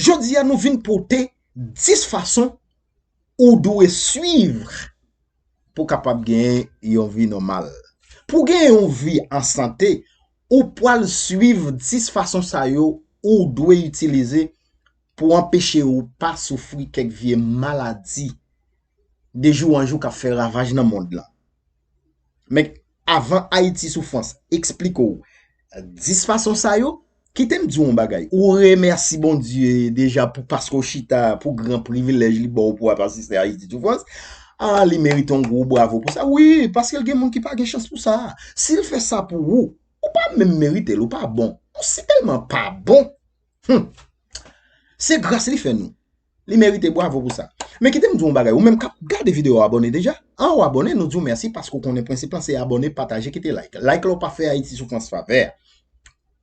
Jodi a nou vin pote 10 fason ou dwe suivre. pou w kapab genyen yon vi nòmal. Pou w genyen yon vi an sante, ou pral suiv 10 fason sa yo ou dwe itilize pou w anpeche ou pa soufri kèk vye maladi de jou an jou k ap fè ravaj nan mond lan. Men Avan Ayiti Soufrans eksplike w 10 fason sa yo, kite m di w yon bagay. Ou remèsi Bondye deja pou paske w chita pou gran privilèj li ba w pou w ap asiste Ayiti Soufrans. A li merite yon gwo bwavo pou sa. Wi, paske l gen moun ki pa gen chans pou sa. Si l fè sa pou ou, ou pa menm merite l. Ou pa bon. Ou si tèlman pa bon. Hum! Se gras li fè nou. Li merite bwavo pou sa. Men kite m di w yon bagay, ou menm k ap gade videyo a abòne deja? An ou abòne, nou di w mèsi paske ou konnen prensip lan se abòne, pataje, kite like. Like la ou pa fè Ayiti Soufrans favè.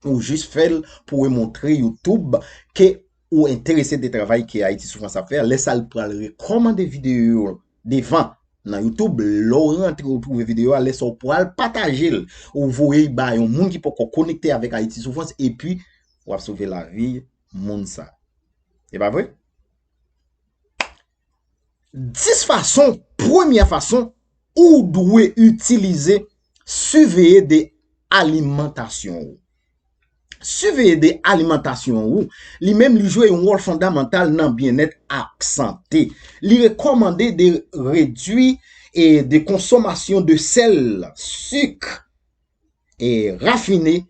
Ou jis fè l pou w montre Youtube ke ou enterese de travay ke Ayiti Soufrans ap fè. Lè sa li pral rekòmande videyo yo devan nan Youtube. Lè w rantre ou twouve videyo a, lè sa ou pral pataje l. Ou voye l ba yon moun ki poko konekte avèk Ayiti Soufrans epi w ap sove lavi moun sa. E pa vre? 10 fason, premye fason ou dwe itilize siveye de alimantasyon ou. Siveye de alimantasyon ou, li menm li jwe yon wòl fondamantal nan byenèt ak sante. Li rekomande de redwi e de konsomasyon de sèl, sik, e rafine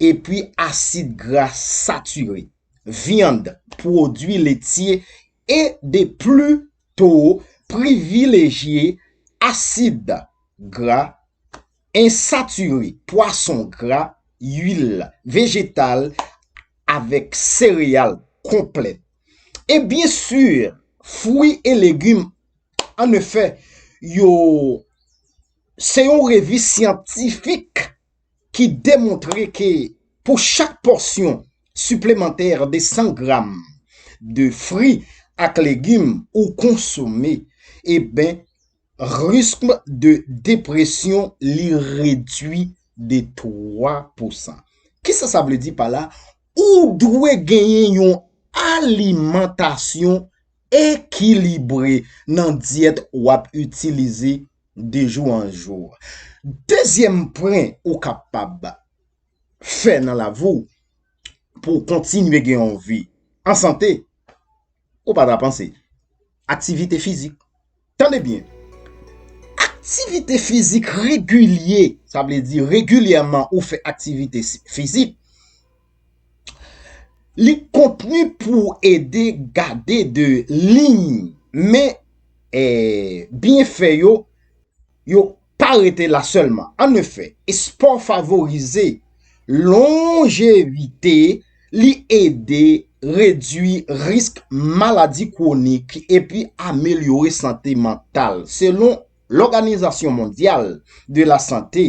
epi asid gra satire, vyand, pwodui letye e de plu to privilejye asid gra ensatire, pwason gra, uil vejetal avèk sereyal konplè e byen sur fwi e legum an efè yo. se yon revi syantifik ki demontre ke pou chak pòsyon siplemantè de 100 gram de fri ak legim ou konsome, eben riskm de depresyon li redui de 3 pousan. Kisa sa vle di pa la? Ou dwe genyen yon alimantasyon ekilibre nan dyèt w ap itilize De jou an jou. Dezyèm pwen ou kapab fè nan lavi w pou w kontinye gen yon vi an sante, ou pa ta panse, aktivite fizik. Tande byen, aktivite fizik regilye, sa vle di regilyèman ou fè aktivite fizik, Li konpni pou w ede gade de liy men byenfè yo yo pa rete la sèlman. An efè, espò favorize lonjevite, li ede redui risk maladi kwonik epi amelyore sante mantal. Selon Lòganizasyon Mondyal de Lasante,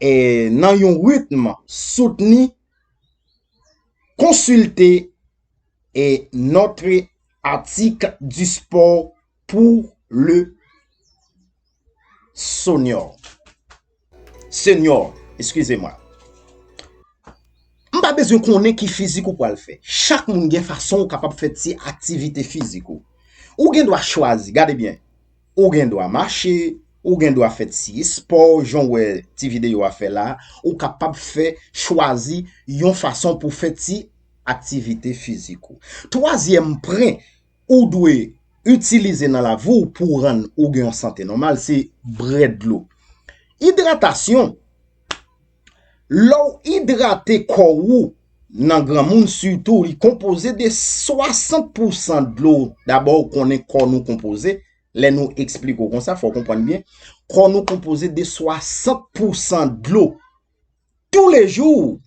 e nan yon ritm soutni konsilte e notre atik du sport pou le sonior senior eskize mwen m pa bezwen konnen ki fizik ou pral fè chak moun gen fason ou kapab fè ti aktivite fizik ou ou gen dwa chwazi gade byen Ou gen dwa mache, ou gen dwa fè ti espò jan w wè ti videyo a fè la, ou kapab fè chwazi yon fason pou fè ti aktivite fizik ou. Twazyèm pwen ou dwe itilize nan lavi w pou rann ou gen yon sante nòmal se bre dlo. Idratasyon. Lè'w idrate kò ou nan granmoun sitou li konpoze de 60 pou san dlo dabò ou konnen kò nou konpoze lè nou eksplike ou konsa fòw konprann byen kò nou konpoze de 60 pou san dlo toulejou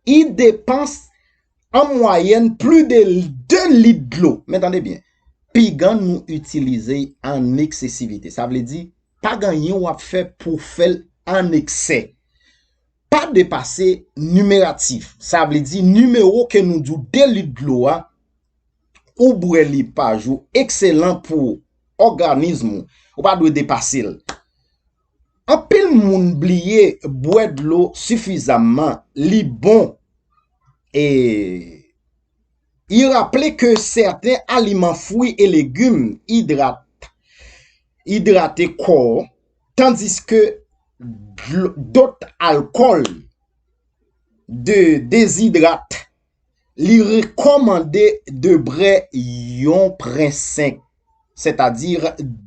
I depanse an mwayèn pli de 2 lit dlo. Men tande byen, pigan nou itilize an eksesivite. Sa vle di, pa gen anyen w ap fè pou w fè l an eksè. Pa depase nimeratif. Sa vle di, nimewo ke nou di w 2 lit dlo a, ou bwè li pa jou, ekselan pou òganizm ou. Ou pa dwe depase l. Anpil moun bliye bwè dlo sifizamman li bon e I raple ke sèten aliman fwi e legum idrate kò tandiske dot alkòl dezidrate Li rekòmande debre yon prensenk, sètadi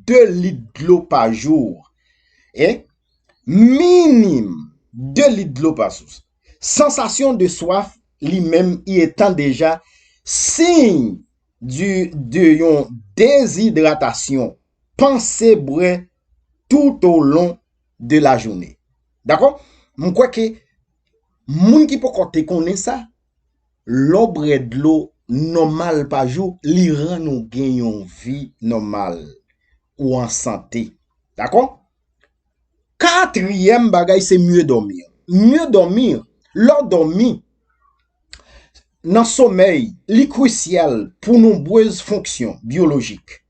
2 lit dlo pa jou, e, minim, 2 lit dlo pa sous. Sansasyon de swaf li menm y etan deja siy de yon dezidratasyon, panse bwè toutolon de lajounen. Dakò? M kwè ke Moun ki poko te konnen sa, lè w bwè dlo nòmal pa jou, li rann ou gen yon vi nòmal, ou an sante. Dakò? Katriyèm bagay se mieux dormir. Mieux dormir, lè w dòmi, nan somèy, li krusyal pou nonbrez fonksyon byolojik.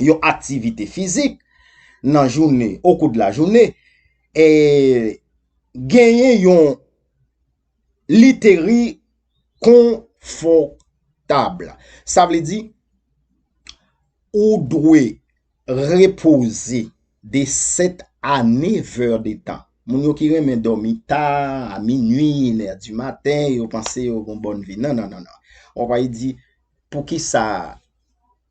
yon aktivite fizik nan jounen, o kou de la jounen, e genyen yon literi konfòtab. Sa vle di, ou dwe repoze de 7 a 9 è de tan. Moun yo ki renmen dòmi ta, a minui, 1 è di maten, yo panse yo gon bòn vi. Nan, nan, nan, nan. Ou va yi di, pou ki sa?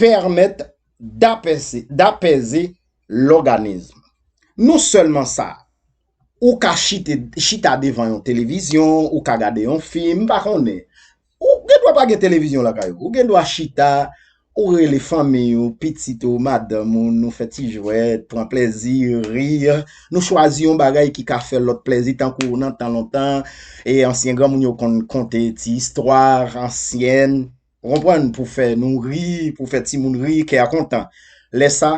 pèmèt dapèze lòganizm. Non sèlman sa, ou ka chita devan yon televizyon, ou ka gade yon fim, m pa konnen, ou gen dwa pa gen televizyon lakay ou, ou gen dwa chita, ou rele fanmi ou, pitit ou, madanm ou, nou fè ti jwèt, pran plèzi, ri, nou chwazi yon bagay ki ka fè lòt plèzi tankou nan tan lontan, ansyen granmoun yo konn konte ti istwa ansyèn. Ou konprann? Pou fè nou ri, pou fè timoun ri, kè a kontan. Lè sa,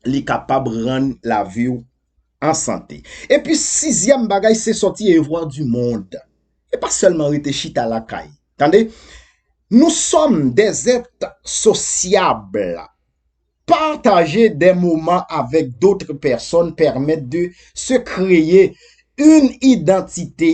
li kapab rann lavi ou an sante. Epi sizyèm bagay se sòti e vwa di mond. E pa sèlman rete chita lakay. Tande, nou sòm dè zèt sosyab. Pataje dè moman avèk dotre pèsòn pèmèt de se kreye yn idantite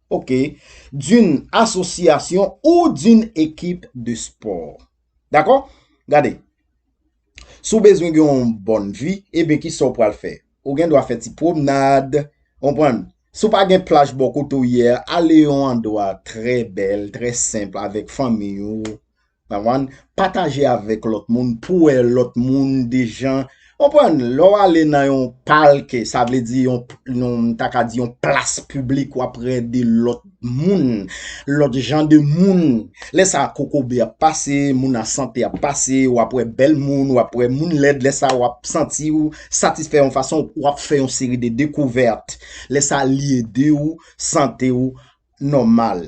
Ok, d'une association ou d'une équipe de sport. Dakò? Gade, si w bezwen gen yon bòn vi, eben ki sa w pral fè? Ou gen dwa fè ti pwomnad, konprann? Si w pa gen plaj bò kote w ye a, ale yon andwa trè bèl, trè senp avèk fanmiy ou. Konprann? Pataje avèk lòt moun pou wè lòt moun de jan Konprann? Lè w ale nan yon palke, sa vle di yon, m ta ka di yon plas piblik w ap wè de lòt moun, lòt jan de moun. Lè sa a kokobe ap pase, moun an sante ap pase, w ap wè bèl moun, w ap wè moun lèd, lè sa a w ap santi w satisfè yon fason, w ap fè yon seri de dekouvèt. Lè sa a li ede w sante w nòmal.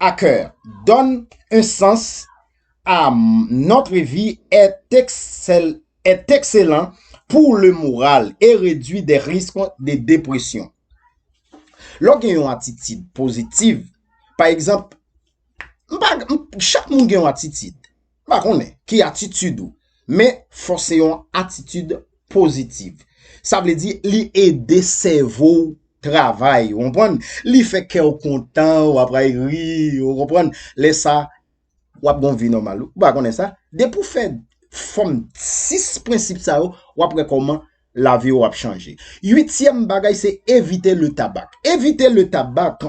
a cœur donne un sens a notre vie est excellent pour le moral et réduit des risques de dépression. Lè w gen yon atitid pozitiv, pa egzanp, chak moun gen yon atitid. M pa konnen ki atitid ou, men fò se yon atitid pozitiv. Sa vle di li ede sèvo w travay, ou konprann? Li fè kè w kontan, w ap ray ri, ou konprann? Lè sa, w ap gen yon vi nòmal. Ou pa konnen sa? Depi w fè fòm 6 prensip sa yo, w ap wè kòman lavi w ap chanje. Uityèm bagay se evite le tabak. Evite le tabak.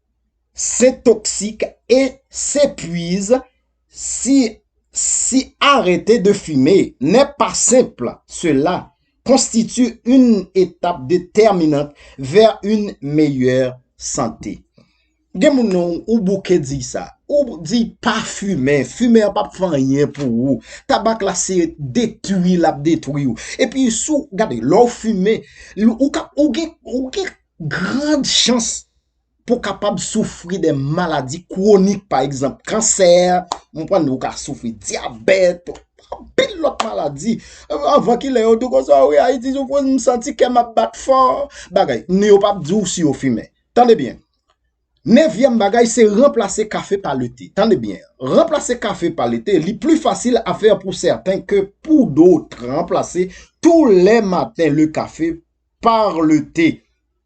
Sen toksik e sen pwiz si si arete de fime nè pa senp sela konstiti yn etap de tèminant vè yn meyè sante gen moun non ou bouke di sa ou di pa fime fime an pap fè anyen pou ou tabak la se detwi lap detwi ou epi sou gade lè ou fime ou gen ou gen grand chans pou kapab soufri de maladi kwonik pa egzanp kansè, ou konprann ou ka soufri dyabèt, anpil lòt maladi. Anvan kilè yo tou konsa wi Ayiti sou pwoz m santi kè m ap bat fò. Bagay, ni yo pa p di w si yo fimen. Tande byen, nevyèm bagay se ranplase kafe pa le te. Tande byen, ranplase kafe pa le te, li pli fasil a fè pou sèten ke pou dout ranplase tou lè maten le kafe pa le te.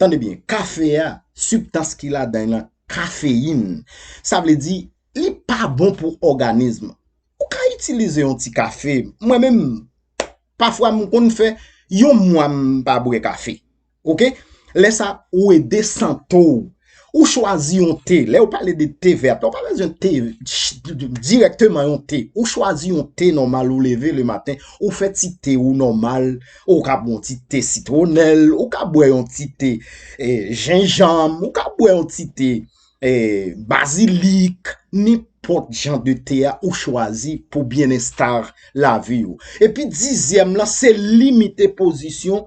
Tande byen, kafe a, sibtans ki ladan l lan kafeyin. Sa vle di, li pa bon pou òganizm. Ou ka itilize yon ti kafe. Mwen menm, pafwa m konn fè yon mwa m pa bwè kafe. Ok? Lè sa, ou ede sante w. Ou chwazi yon te, lè ou pale de te vèt, ou pa bezwen te direktman yon te. Ou chwazi yon te nòmal ou leve le maten, ou fè ti te ou nòmal, ou ka bwè yon ti te sitwonèl, ou ka bwè yon ti te jenjanm, ou ka bwè yon ti te bazilik, ni pot jan de te a ou chwazi pou byen estar lavi ou. E pi dizyèm lan, se limite pozisyon.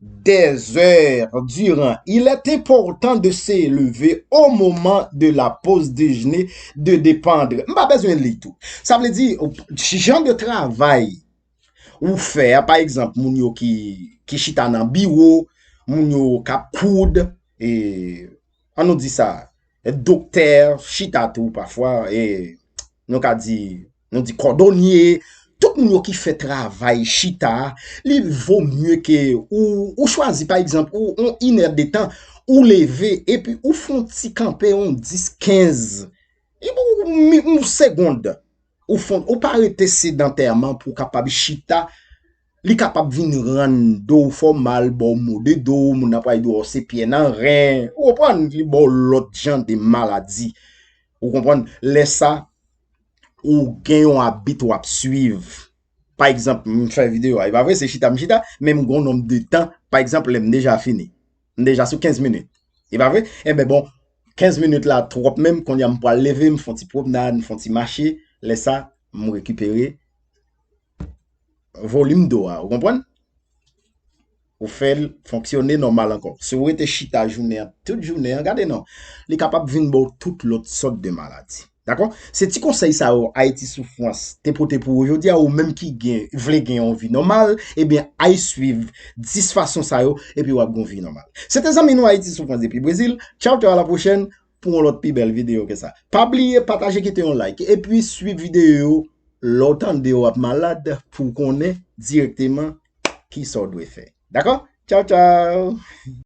Dèzèr diran, il è enpòtan de se leve o moman de la poz dejene de depandre. M pa bezwen li tou. Sa vle di, jan de travay ou fè, pa egzanp, moun yo ki chita nan biwo, moun yo kap koud, e. an nou di sa, doktè chita tou pafwa, e nou ka di, nou di kòdonye, tout moun yo ki fè travay chita, li vo mye ke ou chwazi pa egzanp, ou on inè detan, ou leve, epi ou fon ti kanpe on 10, 15, e pou on segond, ou fon, ou pa rete sedantèman pou kapab chita, Li kapab vin rann do w fò mal, ba w mo de do, moun nan pral di w a w se pyè nan ren, ou konprann, li ba w lòt jan de maladi. Ou konprann, lè sa, ou gen yon abit w ap suiv. Pa egzanp, m fè videyo a, e pa vre se chita m chita, men m gen yon nonb de tan, pa egzanp lè m deja fini. M deja sou 15 minit. E pa vre? Enben bon, 15 minit la twòp menm, kounye a m pral leve, m fon ti pwomnad, m fon ti mache, lè sa, m rekipere, volim do a. Ou konprann? Ou fè l fonksyone nòmal ankò. Si ou rete chita jounen an, tout jounen an, gade non, li kapab vin ba ou tout lòt sòt de maladi. Dakò? Se ti konsèy sa yo Ayiti sou Frans te pote pou ou jodi a, ou menm ki gen, vle gen yon vi nòmal, ebyen ay swiv 10 fason sa yo, epi w ap gen yon vi nòmal. Se te zanmi nou Ayiti sou Frans depi Brezil, tchawtchao a la pwochèn, pou yon lòt pi bèl video ke sa. Pa bliye pataje kite yon like epi swiv video yo lè w tande w ap malad pou w konnen direkteman kisa w dwe fè. Dakò? Tchaw tchaw!